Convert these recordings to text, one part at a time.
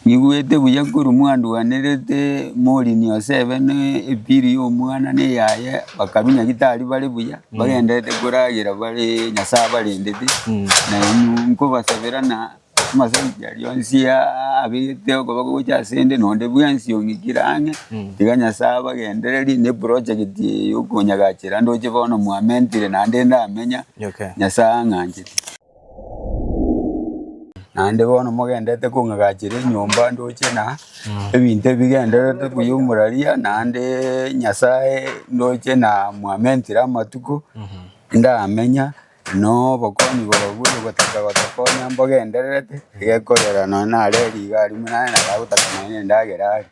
Nigwete buya korwa mwanduanerete morini Yosebe ne epiri y'omwana ne eyaye bakarunya gitari bare buya bagenderete koragera bare Nyasae abarendete na inwe nkobasabera na amasabiti aria onsi abegete okoba gocha asende nonde bwensi ong'ikire ang'e tiga Nyasae abagendererie ne eprojegiti eye yokonyagachera ndoche bono mwamentire naende ndamenya Nyasae ang'anchete. Naende bono mogenderete kong'agachera enyomba ndoche na ebinto ebi bigendererete buya omuraria naende Nyasae ndoche na mwamentire amatuko ndamenya na obokong'u borobwo ogotaka gotokonya mbogendererete egekorera nonye nareri iga aria buna nere nagotaka nonye endagera aria.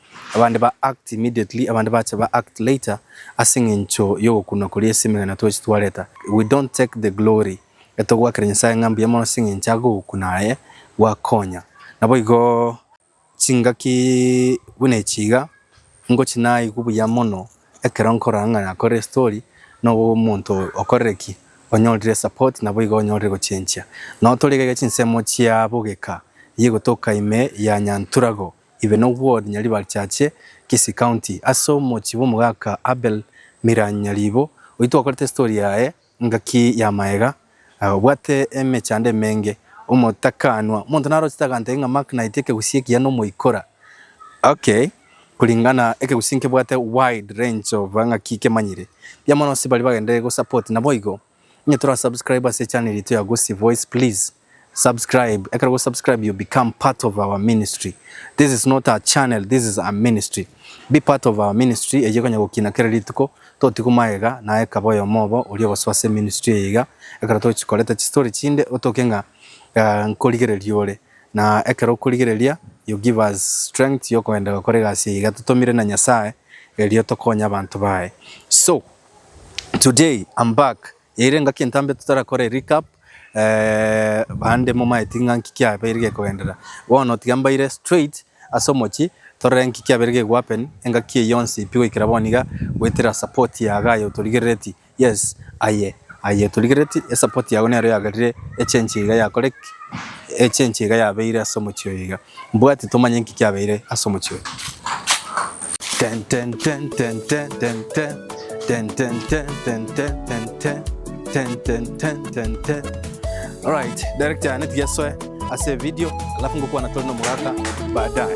Abande ba act immediately, abande bache ba act later ase eng'encho y'ogokunwa koria ase emegena twachia twareta. We don't take the glory. Etogoakera Nyasaye ng'a mbuya mono ase eng'encho age ogokuna aye gwakonya. Naboigo chingaki buna echi iga, ngochi naigwe buya mono ekero nkorora ng'a nakorire estory na omonto okorire ki? onyorire esapoti naboigo onyorire egochenchia. Nao torigaiga chinsemo chia bogeka, eyia egotoka ime ya Nyanturago Ibeno Ward Nyaribarichache, Kisii County, ase omochie bw'omogaka Abel Miranyi Nyaribo, oyio twakorete story yaye ngaki ya maega, obwate emechando emenge, omotakanwa, omonto narochete agantebi ng'a Mark Knight ekegusii ekiya nomoikora, okay, kuringana ekegusii nkebwate wide range of ng'aki kemanyire, mbuya mono nonsi baria bagendereri gosupport naboigo. Onye tora subscribe ase channel yaito ya Gusii Voice please subscribe ekero go subscribe you become part of our ministry this is not a channel this is a ministry be part of our ministry eye ekonya gokina kera rituko totigwe magega naye kaba oyomo obo oria ogosoa ase ministry eye iga ekero tochikoreta chistory chinde otoke ng'a nkorigereria ore na ekero okorigereria you give us strength yokogenda gokora egasi eye iga totomire na Nyasaye erio tokonye abanto baye so. Today I'm back ere engaki entambe totarakore recap eeh bande momaeti ng'a nki kiabeire gekogenderera bono tiga mbaire straight ase omochie torore nki kiabeire geku happen engaki eye yonsi pi goikera bono iga goetera support ya iga aye otorigerereti yes aye aye otorigerereti esupport yago nero yagerire echange iga yakoreki echange iga yabeire ase omochie oyo iga. Mbwati tomanya inki kiabeire ase omochie oyo. Alright, director neti gesoe ase video alafu ngokwana tore nomogaka baadaye.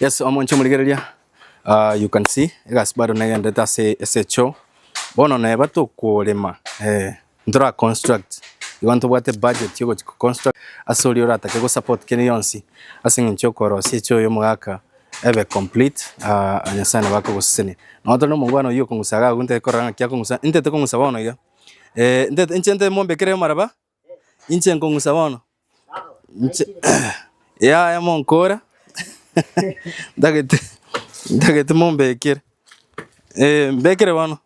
Yes, omonche omorigereria uh, you can see egasi bado negendete ase ase choo bono neba tokorema eh, ntora construct igo ntobwate budget yo gochia construct ase oria oratake go support kere yonsi ase eng'encho okorosia choo ya omogaka ebe complete uh, Nyasaye nabo akogosesenia nonya tore omogwana oyio okong'usa iga agwo ntete korora ng'aki akong'usa intete kong'usa bono iga eh, intete inche nte mombekere amaraba Inche nkong'usa bono, inche yaya monkora ntagete ntagete mombekere eh, mbekere bono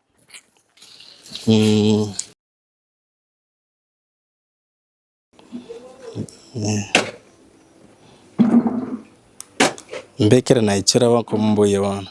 mm. Mbekere naichore bono komboyie bono.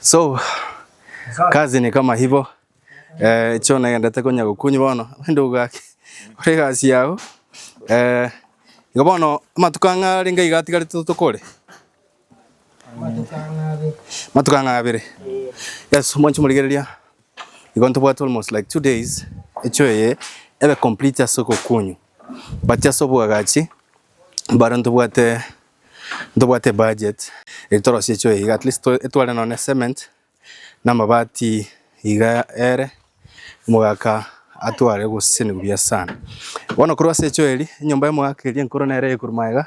So, kazi ni kama hivyo. Eh, cho nagendete konya gokunyi bono ende ogaki ore gasi yao eh, igo bono amatuko ang'a renge iga atigare to- tokore matuko ang'a abere yes mwanchi morigereria igo ntobwate almost like two days echo eye ebe complete ase ogokunyu but ase obwagachi mbare ntobwate Ntobwate ebudget eri torosie choo iga at least etware nonye cement na amabati iga ere omogaka atware gose nebuya sana. Bono korwa ase echoo eri enyomba y'omogaka eria enkoro nere eye korwa magega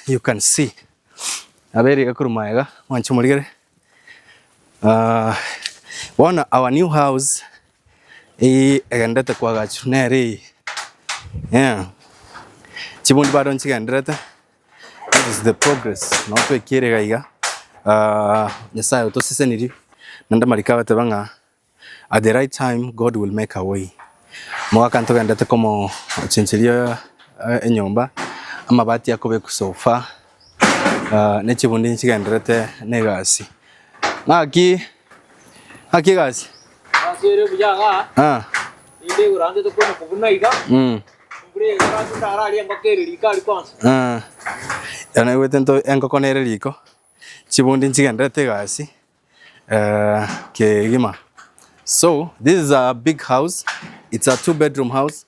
you can see nabo ere iga korwa magega mwanche omorigere bono our new house. Eeh egenderete kwagachu nere eye eeh chibundi bado nchigenderete that is the progress nabo twekire iga iga aah Nyasaye otosesenirie naende amariko agateba ng'a at the right time God will make a way. Omogaka ntogenderete komochencheria enyomba amabati akobekwa so far. Ah, ne chibundi nchigenderete na egasi. Ng'aki, ng'aki egasi. Ase ere buya ng'a Ah, inde igurantete konya kobuna iga mm, mbure igurantete ndararie engoko ere riko ari konsa ah. Ekero naigwete nto enkoko nere riko, chibundi nchigenderete egasi eh, kegima. So, this is a big house, it's a two bedroom house.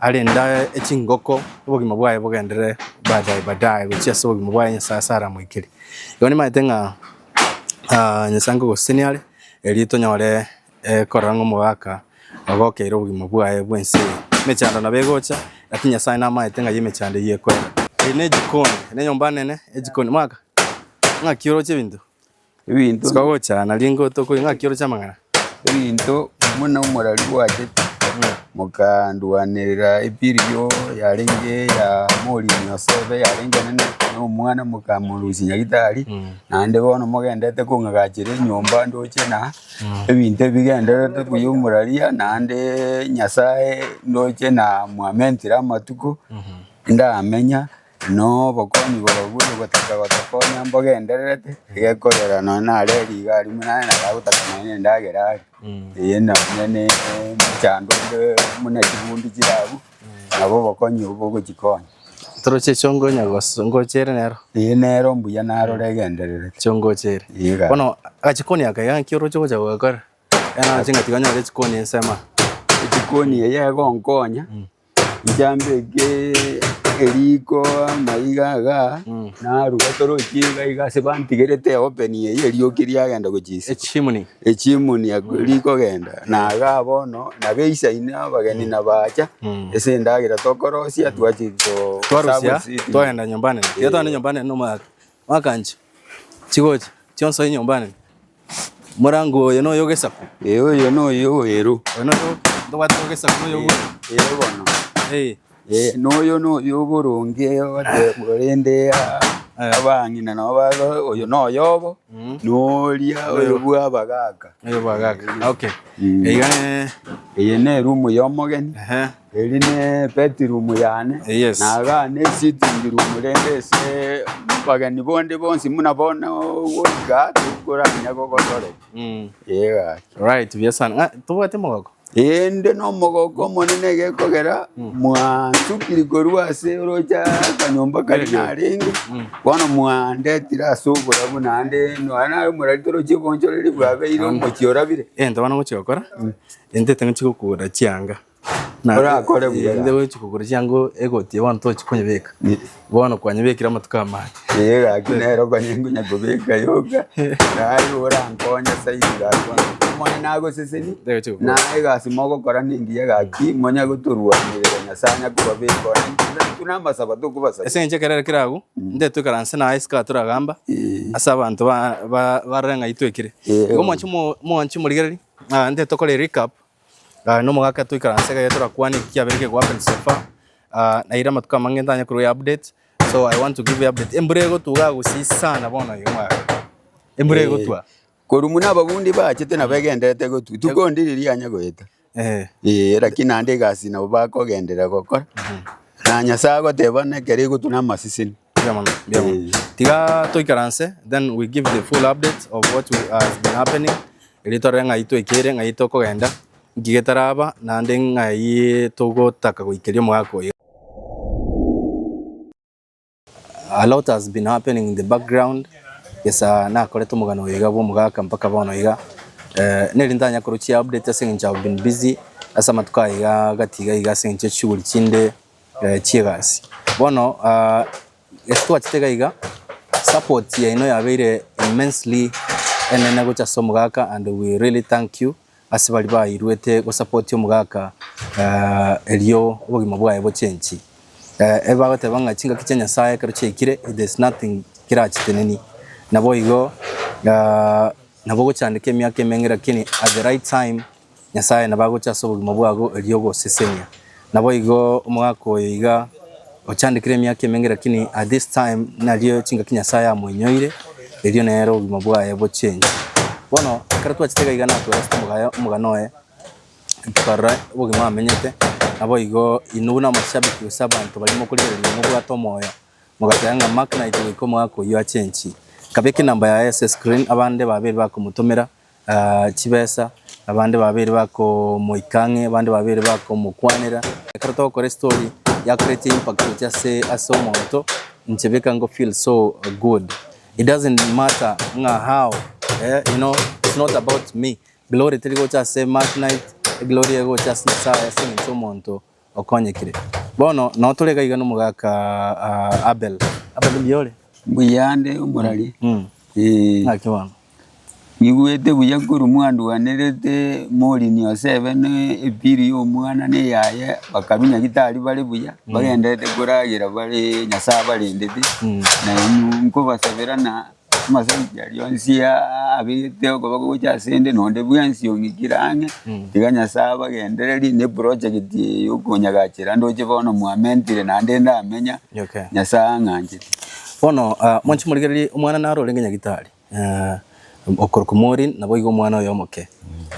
Arende aye echingoko, obogima bwaye bogendere baadaye baadaye gochia ase obogima bwaye Nyasaye ase aramoikere. Igo nimaete ng'a ah Nyasaye nkogosesenia are erio tonyore korora ng'a omogaka ogokeire obogima bwaye bwa ense eye. Emechando nabo egocha, lakini Nyasaye namaete ng'ai emechando eywo ekoira. Eye ne ejikoni, eye ne enyomba nene, ejikoni. Omogaka, ng'aki oroche ebinto? Ebinto, Tikogocha na ringo tokori ng'a kioro chia amang'ana. ebinto buna omorari bwachete, mokanduanerera epirio yarenge ya Morini Yosefe, yarenge enene na omwana mokamorusia Nyagetari, naende bono mogendete kong'agachera enyomba ndoche na ebinto ebi bigendererete buya omoraria, naende Nyasae ndoche na mwamentire amatuko ndamenya, Na obokong'u borobwo bogotaka gotokonya mbogendererete, egekorera nonya nare rigari buna aye naye agotaka nonya nendagera are, eye nonya ne emechando onde buna chibundu chire abwo, nabo obokong'u obwo bogochikonya. Toroche echio ngonya gos- ngochere nero. Eye nero mbuya narore egendererete. Echio ngochere. Iga. Bono agachikoni aka iga naki oroche gocha gokora. Iga naro chingaki onyore chikoni ensemo. Echikoni eye egonkonya, njambeke eriko amaiga iga, naruga torochi iga iga ase bantigerete eopen eyio erioki riagenda gochia isiko. Echimuni. Echimuni eko rikogenda, na iga bono nabo eisaini abageni nabacha, ase endagera tokorosia twachia ko- Twarusia, twagenda nyomba nene. Tiga togende nyomba nene nomwaka. Bakancha chigocha chionsi enyomba enene. Morango oyo noyo ogesaku. Ee oyo noyo oweru. Oyo noyo tobwate ogesaku noyo oboru. Ee bono. Ee. Ee noyo noyo oboronge ogoteebwa rende abang'ina nabo bago oyo noyo obo noria oyo bwa abagaka. Oyo bwa agaka. Okay. Iga ne. Eye ne erumu ya omogeni. Ehe. Eri ne bedroom yane Yes. na aga ne sitting room rende ase abageni bonde bonsi buna bono goika tikoranya gogotoreka Mm. ee gaki Right, buya sana. Ah, tobwate mogoko. ende nomogoka omonene egekogera mwansukiri korwa ase orocha akanyomba kari narenge bono mwandetire ase oborabu naende nonya nare omorari torochie obonchoreri bwabeire omochie orabire Eh, ntabana gochi gokora. Ente tang'achi gokura chianga. Na Orakore buya. eh, nde gochi kogora chiango egoti bono tochi konyebeka. Bono kwanyebekire amatuko amane. Ee, gaki nero konye nkonya kobeka yoka naye orankonye saidi gaki bono omonye nagoseseni Nde gochi kogora. na egasi mogokora nengiya gaki monya gotorwanerera nyasaye anya kobabeka ona intwe- intwe namasaba tokobasaba Ase eng'encho ekerero kere agwo, nde toikaranse naye isiko toragamba Eh. ase abanto ba- ba- barore ng'a itwekire. Eh. Igo mwanchi mo- mwanchi morigereria, ah, nde tokore recap Ah, na omogaka etoikaranse iga torakwane eki kiabere kegwa happen so far. Ah, naira amatuko amange ntanye korwa update. So I want to give you update. Embura egotuga gusii sana bono iga mwaya. Embura Eh, egotwa. Korwa muna abagundi baachete nabo egenderete gotwa. Tuko ndi riria yanya goeta. Eh. Eh, lakini naende egasi nabo bakogenderera gokora. Na Nyasae agoteba nekero egotwa na amaseseni. Mbuya mono, mbuya mono. Eh. Tiga toikaranse, then we give the full update of what we- has been happening. Eri torore ng'ai twekere, ng'ai tokogenda, nki getaraba, naende ng'ai togotaka goikeria omogaka oyo. A lot has been happening in the background. Gesa nakorete omogano oyo iga bwa omogaka mpaka bono iga. Eh, neri ntanya korochia update ase eng'encho I've been busy ase amatuko aya iga gati iga iga ase eng'encho ya chishughuli chinde. chiegasi. Bono ase twachete iga iga support yaino yabeire immensely enene gocha ase omogaka and we really thank you ase baria bairuete go support omogaka erio obogima bwaye bochengi. Ebagoteba ng'a chingaki chia Nyasaye ekero chiaikire there is nothing kirachitenenie. Naboigo nabo ogochandeka emiaka emenge lakini at the right time Nyasae nabo agocha ase obogima bw'ago erio ogosesenia. Naboigo omogaka oyo iga ochandekire emiaka emenge lakini at this time nario chingaki Nyasae amoinyoire erio nere obogima bwaye bochengi. Bono ekero twachete iga iga natwereste omogayo omogano oye tokarora obogima amenyete naboigo inwe namashabiki gose abanto baria mokorigereria mobwate omoyo mogateba ng'a Mark naite goika omogaka oyio achenchie. Nkabeka enamba yaye ase screen abande babere bakomotomera chibesa, abande babere bakomoika ang'e, abande babere bakomokwanera. Ekero togokora estory yakoretia impact gochia ase ase omonto, inche beka ngo feel so good. It doesn't matter ng'a how eh you know it's not about me, glory teri gocha ase Mark Knight, eglory ere gocha ase Nyasaye ase eng'encho y'omonto. okonyekire. Bono nao tore gaiga nomogaka Abel. Abel mbuya ore? Mbuya ande omorari. Mm. Eh. Naki bono. Nigwete buya korwa mwanduanerete Morini Osebe ne epiri ya omwana ne yaye bakarunya gitari bare buya mm. bagenderete koragera bare Nyasaye abarendete mm. na inwe nkobasabera na Amasaimbi aria onsi abegete okoba gocha ase ende nonde bwensi ong'ikire ang'e tiga Nyasae abagendererie ne project eye yokonyagachera ndoche bono mwamentire naende ndamenya Okay. Nyasae ang'anchete. Bono ah, mwanche morigererie omwana naro orenge nyagitari eh, okorokwa Maureen naboigo omwana oye omoke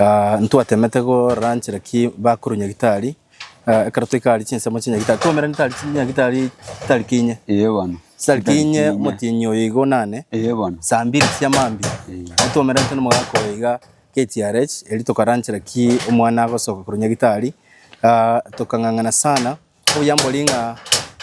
Ah, ntwatemete goranchera ki bakuru nyagitari Ekero toika aria chinsemo chinya gitari twaumerane tari chinya gitari tari kinye. Eye bono. Tari kinye omotienyi oyo igo nane. Eye bono. Saa mbiri chia maambia. Twaumeranete na omogaka oyo iga KTRH eri tokaranchera ki omwana agosoka korwa nyagitari. Tokang'ang'ana sana. Obuya mbori ng'a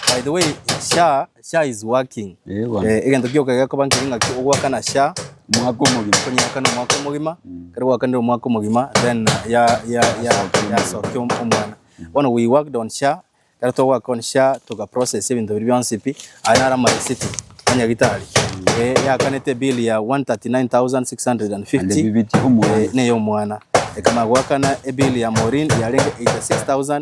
by the way SHA Sha is working. Eh, bono. Eh, egento gioka gekoba nkeri ng'aki ogwakana sha Mwaka omogima. konyakana omwaka omogima kero gwakanire omwaka omogima then ya ya ya yasokia om- omwana bono we worked on sha kero togwaka on sha toka process ebinto biria bionsi pi aye naro ama receipt a nyagitari Eh, yakanete bill ya And 139650 ebibiti omwana. Eh, neye omwana ekana gwakana ebill ya morin yarenge 86000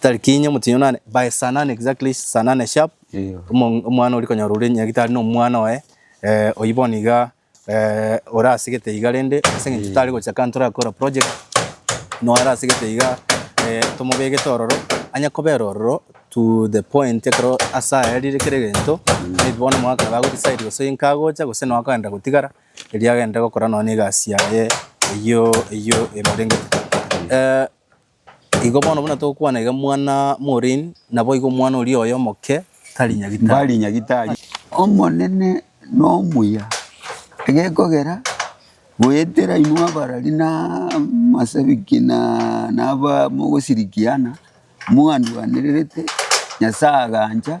Tariki inye omotinyi nane by saa nane exactly saa nane sharp Iyo. omo- omwana oria konyora ore nyagitari na omwana oye eh, oyio bono iga eh, ore asegete iga rende ase eng'encho tari gocha kando torakora project na ore asegete iga eh, tomobegete ororo anye kobera ororo to the point ekero ase aya arire kera egento maybe bono omwaka iga ago decide gose oyo nkagocha gose nonya akagenda gotigara erio agende gokora nonya na egasi yaye eyio eyio emorengete eh, Igo bono buna togokwana iga mwana morini, naboigo omwana oria oye omoke tari nyagitari. Mbari nyagitari. Omonene nomuya, egekogera goetera inwe abarari na amasabiki na naba mogosirikiana, mwanduanererete, Nyasae agancha,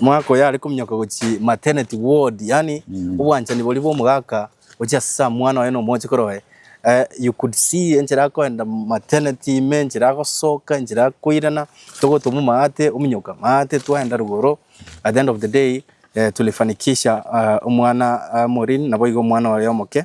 Omogaka oyo are kominyoka gochia maternity ward, yaani obwanchani boria bw'omogaka gochia ase samwana oye na omochikoro oye. Eh, you could see enchera akoenda maternity ime, enchera agosoka, enchera akoirana, togotoma omagate, ominyoka amagate, twaenda rogoro, at the end of the day, eh, tulifanikisha ah, omwana ah, Maureen, naboigo omwana oye omoke.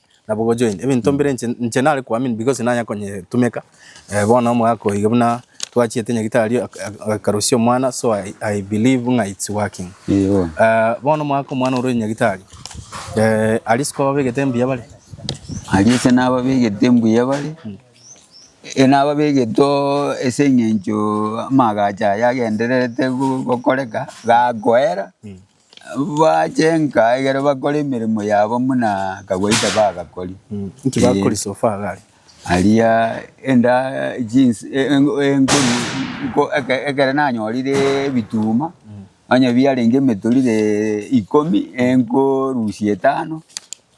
Nabo gocha oende, ebinto mbire inche inche nare koamini because nanya konyetumeka, eh, bono omogaka oyo iga buna twachiete nyagitari ak- ak- agakarusia omwana so I, I believe ng'a it's working. Ee, bono. Eh, bono omogaka omwana ore nyagitari, eh, aria isiko babegete mbuya bare, Aria ase nababegete mbuya bare, e- nababegete oo ase eng'encho amagacho aya agendererete go- gokoreka, gakoera, Bache nka egere bakore emeremo yabo muna kagwaita bagakori. Inki bakori so far gari? Aria enda jeans enkoni nko eke- ekere nanyorire ebituma onye biarenge emetorire ikomi enkorusia etano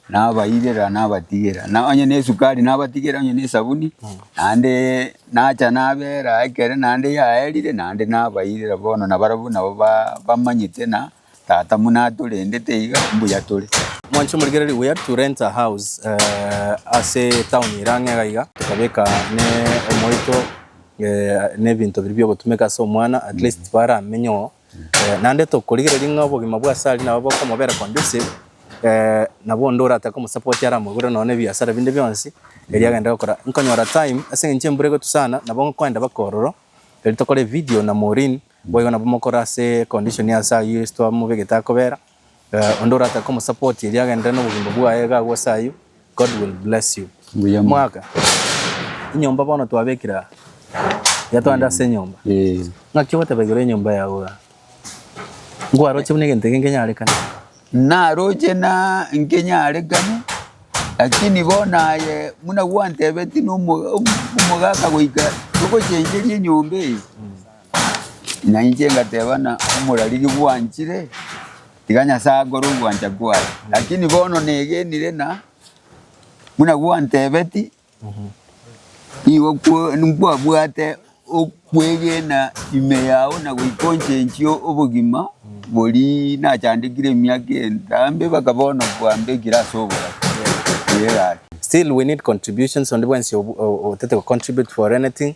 Nabairera, nabatigera, na onye nesukari nabatigera, onye nesabuni, naende nacha nabera ekere naende yaerire, naende nabairera bono, na barabwo nabo ba- bamanyete na Tata muna atorendete iga mbuya tore. Mwanche morigererie buya to rent a house ase etown ere ang'e iga iga tokabeka ne omoito ne ebinto biria biogotumeka ase omwana at least baramenye oo. Naende tokorigereria ng'a obogima bwa Sally nabo bokomobera conducive, nabo onde oratake omosupport aramogure nonya na ebiasara binde bionsi erio agende gokora. Nkonyora time ase eng'encho embura egotwa sana nabo nkoenda mpaka ororo erio tokore evidio na Maureen, boigo nabo mokore ase econdition ya Sally ase twamobegete akobera. Onde oratake omosupport erio agenderere nobogima bwaye iga agwo ase ayio, God will bless you. Mbuya mono. Mwaka, enyomba bono twabekire aa, iga togende ase enyomba. Eh, Ng'aki ogotebekerwa enyomba yao iga? Nkwaroche buna egento eke nkenyarekane. naroche na nkenyarekane lakini bono aye buna gwantebetie na omo- omo- omogaka goika togochencheria enyomba eye Nainche ngateba ng'a omorariri bwanchire, tiga Nyasae akore ogwancha kwaye. Lakini bono negenire ng'a buna gwantebeti, nigo kwo- nkwabwate okwegena ime yao na goika onchenchie obogima boria nachandekire emiaka entambe mpaka bono kwambekire ase obobabe. Tiga egaki. Still we need contributions onde bwensi otete go contribute for anything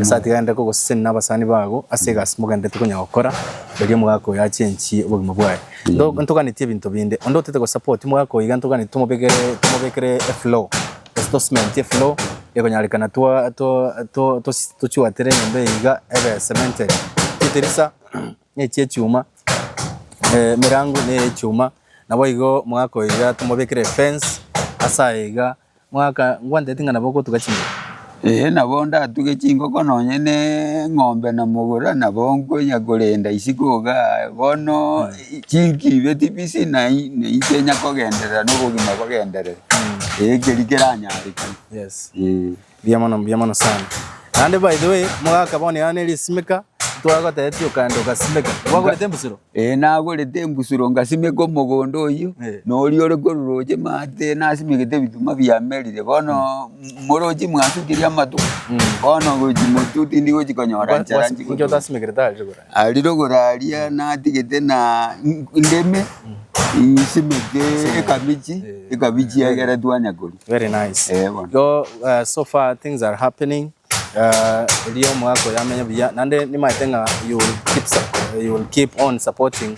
Ase atiganete kogosesenia nabasani bago ase egasi mogenderete konya gokora, erio omogaka oyo achenchie obogima bwaye. Nto- Ntoganetie ebinto binde. Onde otaete gosupport omogaka oyo iga ntoganetie tomobekere tomobekere eflow, gose tocementie eflow ekonyarekana twa twa twa tosi tochuatere enyomba eye iga ebe cemented. Chitirisa nechi echuma, emerango neyechuma, naboigo omogaka oyo iga tomobekere efence ase aye iga. Mwakangwantereti ng'a nabo ogotuga chingoko? Ee, nabo ndatuge chingoko nonye ne eng'ombe na mogora, nabo nkonya korenda isiko iga aa. Bono chinkibe tibisi na inche nyakogenderera na obogima bogenderere, ee ekeri keranyarekane. Yes. Ee. Mbuya mono, mbuya mono sana. Naende by the way, mogaka bono yao nere esimeka, ntwara gotebetia okande ogasimeka. Gwagorete embusero? Ee, nagorete embusuro ngasimeka omogondo oyio, na oria ore kororoche maate nasimegete ebituma biamerire. Bono morochi mwatukirie amatuko, bono gochi motu tindi gochi konyora nchera Inki nchigotoe. otasimekerete arire kora? Ari rogoro aria natigete na n- ndeme nsimeke ekabichi, ekabichi egere twanya koria. Very nice. Eh, bono. Igo, eh, so far things are happening. Erio omogaka oye amenye buya, naende nimaete ng'a you will keep sup- you will keep on supporting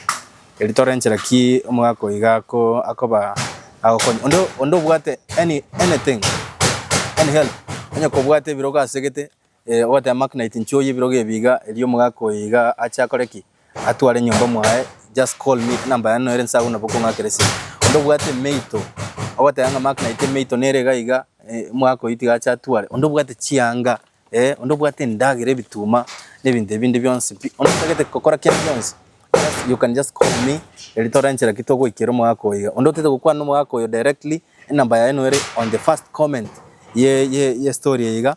erio tore nchera ki omogaka oyo iga ako- akoba agokonye. Onde onde obwate any anything, any help, onye kobwate ebirogo asegete, ogoteba magnet nchioye ebirogo ebi iga, erio omogaka oyo iga ache akore ki? Atware nyomba mwaye just call me enamba yane noere nse agwo nabo okong'akera esegi. Onde obwate emeito ogoteba ng'a mark night emeito nere iga iga eh, omwaka oyio tiga ache atware. Onde obwate chianga eh, onde obwate endagera ebituma na ebinto ebinde bionsi pi. Onde otagete gokora kende gionsi just you can just call me eri torenchera ki togoikera omwaka oyo iga. Onde otaete gokwana omwaka oyo directly enamba yaye noere on the first comment ye ye ye story eye iga.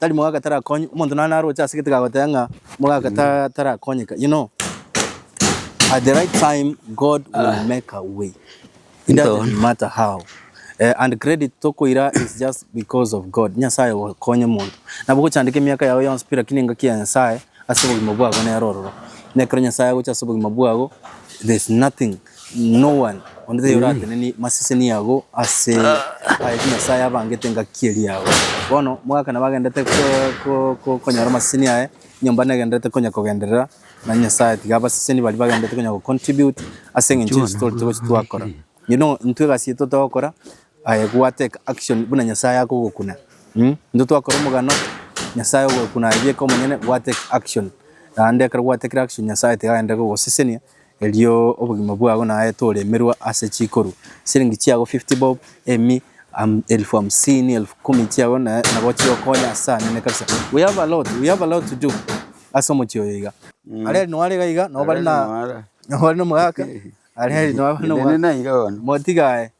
Tari mogaka tarakonywe. Omonto nonye naroche ase gete gagoteba ng'a mogaka ta- tarakonyeka. You know, at the right time, God will make a way. It doesn't Ntono. matter how. Eh, and credit tokoira is just because of God. Nyasaye ogokonya omonto. Nabo ogochandeka emiaka yao yonsi pi lakini engaki ya Nyasaye ase obogima bwabo nero ororo. Nekero Nyasaye agocha ase obogima bwabo, there's nothing No one onde taiyo oratenenie maseseni ago ase ayio Nyasae abangete engaki eria yabo. Bono mwaka nabo agenderete ko- ko- ko- konyora amaseseni aye, enyomba negenderete konya kogenderera, na Nyasae tiga abaseseni baria bagenderete konya go contribute ase eng'encho ya ase torete gochi twakora. You know, intwe egasi eyio totogokora, aye gwa take action buna Nyasae akogokuna. Intwe twakora omogano, Nyasae ogokuna aye bieka omonyene, gwa take action. Naende ekero gwatekire action Nyasae tiga agenderere kogosesenia, Erio obogima bwao naete oremerwe ase chikoru, siringi chiago fifty bob, emi, am, elfu hamsini, elfu kumi chiago na nabo chigokonya ase anene kabisa. We have a lot, we have a lot to do ase omochie oyo iga. Areri noare iga iga, nobare na, nobare nomogaka, areri nobare Nende nomogaka. naiga bono. Motiga aye.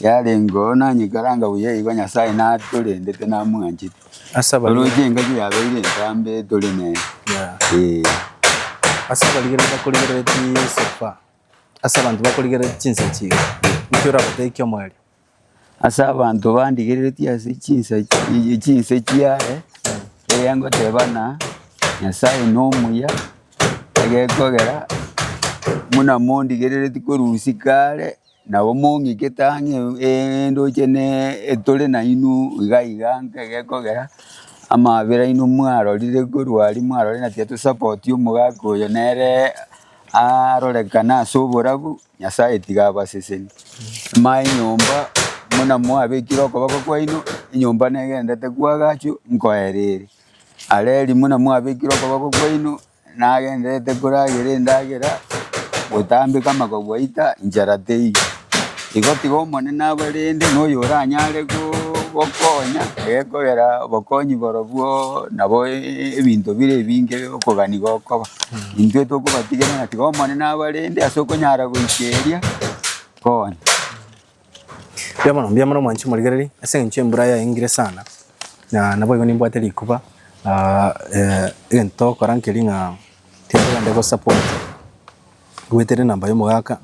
Yarengeo nanyekaranga buya igo Nyasae natorendete namwanchete. Ase abari- Oroche engaki yabeire entambe tore nere. Yeah. Eh. ase abarigereria bakorigereria chisofa ase abanto bakorigereria chinsachi iga inki orabatebikia omoerio? Ase abanto bandigereretie ase chinsa chi- chinse chiaye, eria ngoteba ng'a Nyasae nomuya egekogera buna mondigereretie korwa usi kare. Nabo mong'ikete ang'e endoche etore nainwe iga iga ng'a egekogera amabera aino mwarorire korwa aria mwarorire na tiga tosapoti omogaka oyo nere arorekane ase oborabu, Nyasae tiga abaseseni. Maya enyomba buna mwabekire okoboko kwaino, enyomba negenderete koagachwa nkoerere. Areri buna mwabekire okoboko kwaino Nagenderete koragera endagera, gotambeka amagogo aita, inchara teiyo. Igo tiga Omonene abarende, na oyoranyare gokonya, gekogera obokonyi borobwo nabo ebinto bire ebinge okogania gokoba. Intwe tokobatigera ng'a tiga Omonene abarende ase okonyara goikeria konya. Mbuya mono, mbuya mono mwanchi morigereria, ase eng'encho embura yaengire sana, na naboigo nimbwate rikuba ah, eh, egento togokora nkeri ng'a tiga togende gosupport goetera enamba ya omogaka,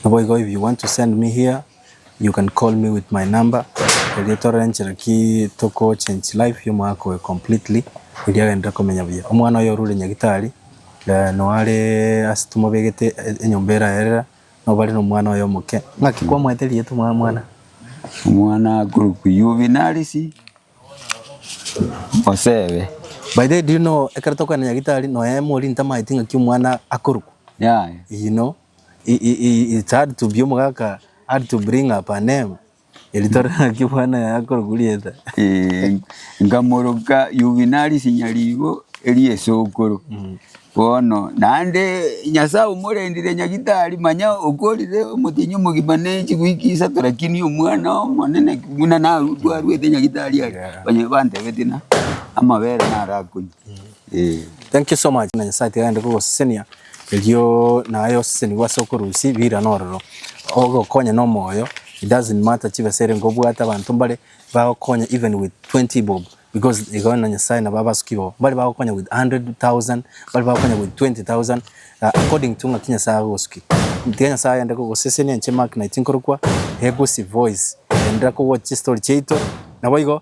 naboigo if you want to send me here, you can call me with my number erio torore nchera ki toko change life ya omogaka oyo completely erio agenderere komenya buya. Omwana oyo orure nyagitari, eh, noo are ase tomobegete enyomba eraerera. Nobare nomwana oye omoke. Ng'aki kwamoete rieta omwa mwana? Omwana akorokwa Yuvinarisi Osebe. By the way, do you know ekero tokwana nyagitari noe mori ntamaeti ng'aki omwana akorokwa. Yaya. You know, i- i- i- it's hard to be omogaka, hard to bring up a name. Erito ri'ng'aki Bwana yaye akoroguriete. Nkamoroka Yuvinari Sinyarigo eria esokoro. Bono naende Nyasae omorendire Nyagitari, manya okorire omotienyi omogima ne chigwiki isato, rakini omwana omonene buna narwarwete Nyagitari aria, banyore bantebetie na amabere narakonywa. Thank you so much buna Nyasae tiga aende kogosesenia. Erio naye osesenigwe ase okorusia birane ororo, ogokonya na omoyo, it doesn't matter chibesa ere nigo obwate abanto mbare bagokonya even with 20 bob because igo na Nyasaye nabo abasuki babo mbare bagokonya with 100,000, mbare bagokonya with 20,000 according to ng'aki Nyasaye agogosukia. Tiga Nyasaye aende kogosesenia inche Mark naye tinkorokwa, he gusi voice, endelea kowoch chistori chiaito, naboigo